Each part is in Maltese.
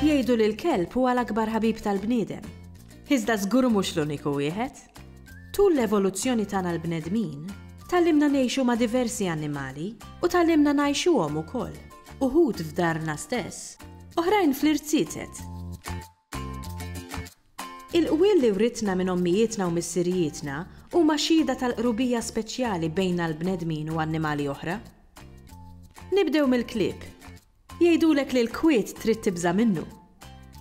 Jgħidu li l-kelb huwa l-akbar ħabib tal-bniedem. Iżda żgur mhux l-uniku wieħed. Tul l-evoluzzjoni tagħna l-bnedmin, tallimna ngħixu ma' diversi annimali u tallimna ngħixuhom ukoll. uħud f'darna stess, oħrajn fl-irziezet. Il-qwiel li writna minn ommijietna u missirijietna huma xhieda tal-qrubija speċjali bejna l-bnedmin u annimali oħra. Nibdew mill-klieb. Jgħidulek li l-kwiet trid tibża' minnu.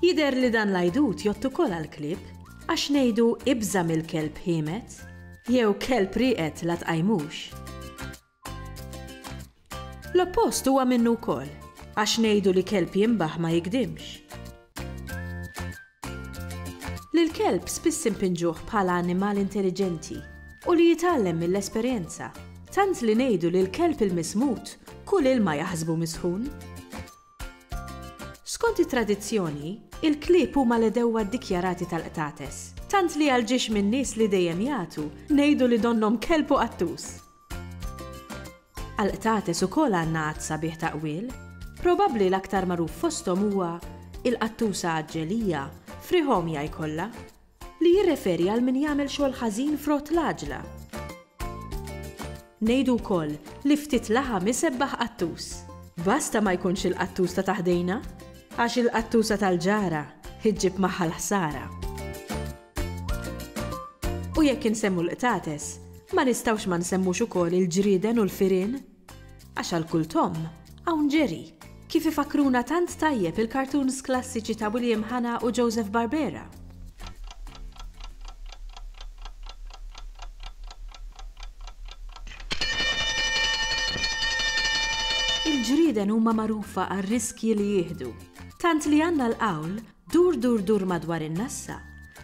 Jidher li dan l-għidut jgħodd ukoll għall-klieb, għax ngħidu ibża' mill-kelb ħiemet, jew kelb rieqed la tqajmux. L-oppost huwa minnu wkoll, għax ngħidu li kelb jinbaħ ma jigdimx. Lill-kelb spiss inpinġuh bħala annimal intelliġenti u li jitgħallem mill-esperjenza, tant li ngħidu li l-kelb il-mismut kull ilma jaħsbu misħun. Skont it-tradizzjoni, il-klieb huma l-għedewwa ddikjarati tal-qtates, tant li għal ġiex min-nies li dejjem jagħtu ngħidu li donnhom kelb u qattus. Għall-qtates ukoll għandna għadd sabiħ ta' qwiel. Probabbli l-aktar magħruf fosthom huwa il-qattusa għaġġelija, frihomja jkollha, li jirreferi għal min jagħmel xogħol ħażin f'rott l-għaġla. Ngħidu wkoll li ftit laħam isebbaħ qattus. Basta ma jkunx il-qattus ta' taħdejna, għax il-qattusa tal-ġara ħġib magħha l-ħsara. U jekk insemmu l-qtates, ma nistgħux ma nsemmux ukoll il-ġrieden u l-firien? Għax għal kull tomm, hawn ġeri, kif ifakkruna tant tajjeb il-cartoons klassiċi ta' William Hanna u Joseph Barbera. Il-ġrieden huma magħrufa għar-riskji li jieħdu, tant li għandna l-qawl Dur dur dur madwar in-nassa,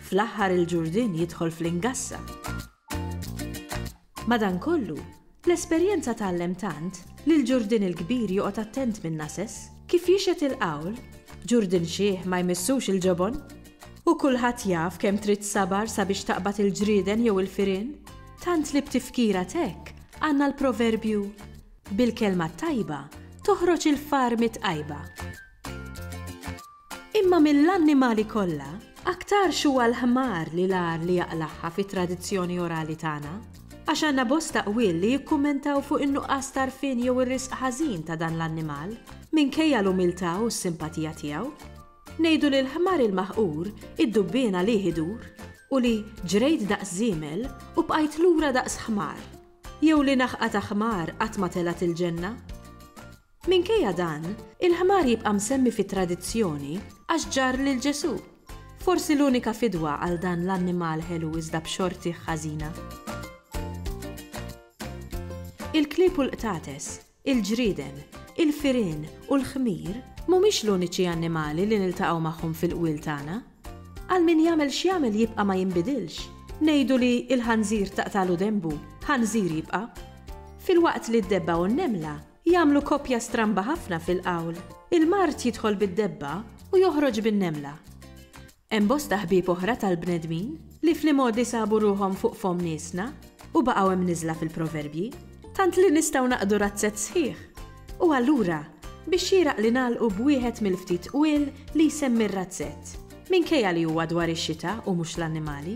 fl-aħħar il-ġurdien jidħol fl-ingassa. Madankollu, l-esperjenza tgħallem tant li l-ġurdien il-kbir joqgħod attent min-nases. Kif jixhed il-qawl, ġurdien xiħ ma jmissux il-ġobon. U kulħadd jaf kemm trid sabar sabiex taqbad il-ġrieden jew il-firien, tant li b'tifkira t'hekk għandna l-proverbju, Bil-kelma t-tajba toħroġ il-far mit-tqajba. Imma mill-annimali kollha, aktarx huwa l-ħmar li l-agħar li jaqlagħha fit-tradizzjoni orali tagħna, għax għandna bosta qwiel li jikkummentaw fuq in-nuqqas t'għarfien jew ir-riżq ħażin ta' dan l-annimal, minkejja l-umiltà u s-simpatija tiegħu. Ngħidu li l-ħmar il-maħqur id-dubbien għalih idur u li ġrejt daqs żiemel u bqajt lura daqs ħmar, jew li naħqa ta' ħmar qatt ma telgħet il-ġenna? Minkejja dan, il-ħmar jibqa' msemmi fit-tradizzjoni għax ġarr lil Ġesù. Forsi l-unika fidwa għal dan l-annimal ħelu iżda b'xortih ħażina. Il-klieb u l-qtates, il-ġrieden, il-firien u l-ħmir mhumiex l-uniċi annimali li niltaqgħu magħhom fil-qwiel tagħna. Għal min jagħmel x'jagħmel jibqa' ma jinbidilx. Ngħidu li l-ħanżir taqtagħlu denbu, ħanżir jibqa'. Filwaqt li d-debba u n-nemla Jagħmlu koppja stramba ħafna fil-qawl, il-mard jidħol bid-debba u joħroġ bin-nemla. Hemm bosta ħbieb oħra tal-bnedmin li fl-imgħoddi sabu ruħhom fuq fomm niesna u baqgħu imniżżla fil-proverbji, tant li nistgħu naqdu razzett sħiħ. U allura, biex xieraq li nagħlqu b'wieħed mill-ftit qwiel li jsemmi r-razzett, minkejja li huwa dwar ix-xita u mhux l-annimali.